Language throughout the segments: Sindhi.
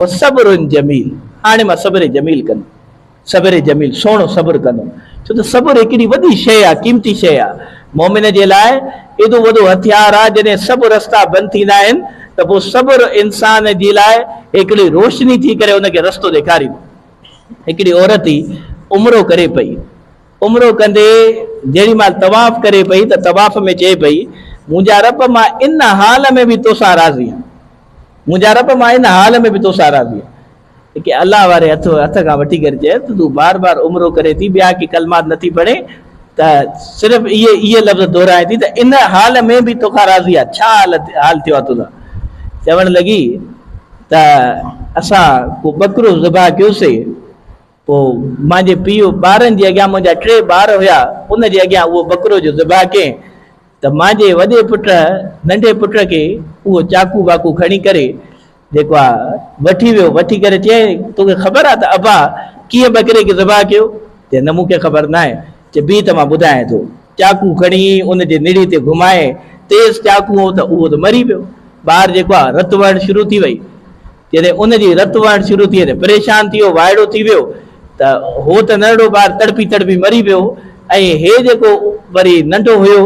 وصبر جميل هاڻي مان صبر جميل ڪندم صبر جميل سهڻو صبر ڪندم ڇو ته صبر هڪڙي وڏي شيء آهي قيمتي شيء آهي مؤمن جي لاء ايڏو وڏو هٿيار آهي جڏهن سڀ رستا بند ٿيندا آهن ته پوء صبر انسان جي لاء هڪڙي روشني ٿي ڪري ان کي رستو ڏيکاريندو هڪڙي عورت ئي عمرو ڪري پئي عمرو ڪندي جيڏي مھل طواف ڪري پئي ته طواف ۾ چئي پئي، منھنجا رب مان ان حال ۾ به توسان راضي آھيان، منھنجا رب مان ان حال ۾ به توسان راضي آھيان. ڪي الله واري ھٿ کان وٺي ڪري چئي ته تون بار بار عمرو ڪرين ٿي، ٻيا ڪي ڪلمات نه ٿي پڙھين ته صرف اھي لفظ دهرائين ٿي ته ان حال ۾ به توکان راضي آھيان، ڇا حال ٿيو آھي تنھنجو؟ چوڻ لڳي ته اسان ڪو ٻڪرو ذبح ڪيوسي. پوء منهنجي پيء ٻارن جي اڳيان منهنجا ٽي ٻار هيا ان جي اڳيان اهو ٻڪرو جو ذبح ڪين ته منهنجي وڏي پٽ ننڍي پٽ کي اهو چاقو واقو کڻي ڪري جيڪو آ وٺي ويو وٺي ڪري چيائين توکي خبر آ ته ابا ڪيئن ٻڪري کي ذبح ڪيو چي نه مونکي خبر ناهي چي بيهه ته مان ٻڌايان ٿو چاقو کڻي ان جي نڙي تي گهمائين تيز چاقو هو ته اهو ته مري پيو ٻار جيڪو آ رت وهڻ شروع ٿي وئي جڏهن ان جي رت وهڻ شروع ٿي ته پريشان ٿي ويو، وائڙو ٿي ويو ته هو ته ننڍڙو ٻار تڙپي تڙپي مري پيو ۽ هي جيڪو وري ننڍو هيو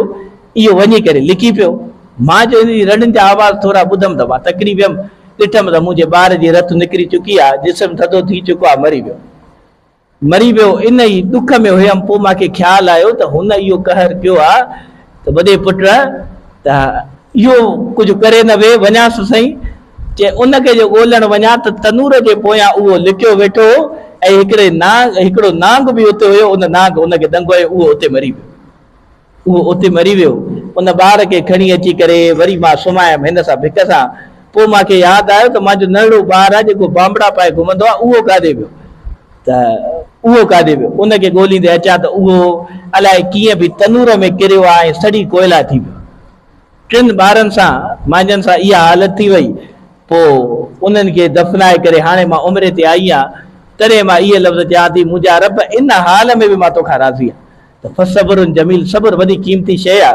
اهو وڃي ڪري لڪي پيو. مان جو هن جي رڙن جا آواز ٿورا ٻڌم ته مان تڪڙي ويم، ڏٺم ته منهنجي ٻار جي رت نڪري چڪي آهي، جسم ٿڌو ٿي چڪو آهي، مري ويو. مري ويو ان ئي ڏک ۾ هيم پوء مان کي خيال آيو ته هن اهو قهر ڪيو آ ته وڏي پٽ ته اهو ڪجهه ڪري نه وي وڃان سو سائين چي ان کي جو ڳولڻ وڃان ته تنور جي پويان اهو لڪيو ويٺو هو ۽ هڪڙي نانگ هڪڙو نانگ به اتي هيو ان نانگ هن کي ڏنگو ۽ اهو اتي مري ويو. اهو اتي مري ويو. ان ٻار کي کڻي اچي ڪري وري مان سمايم هن سان ڀڪ سان. پوء مان کي ياد آيو ته مان جو ننڍڙو ٻار آ جيڪو بانبڙا پائي گهمندو آ اهو ڪاڏي ويو؟ ته اهو ڪاڏي ويو؟ ان کي ڳوليندي اچان ته اهو الائي ڪيئن به تنور ۾ ڪريو آ ۽ سڙي ڪوئلا ٿي ويو. ٽن ٻارن سان مانجهن سان اها حالت ٿي وئي پوء انهن کي دفنائي ڪري هاڻي مان عمري تي آئي آهيان تڏهن مان اهي لفظ چيان ٿي منهنجا رب ان حال ۾ به مان توکان راضي آهيان ته فصبر جميل صبر وڏي قيمتي شيء آهي.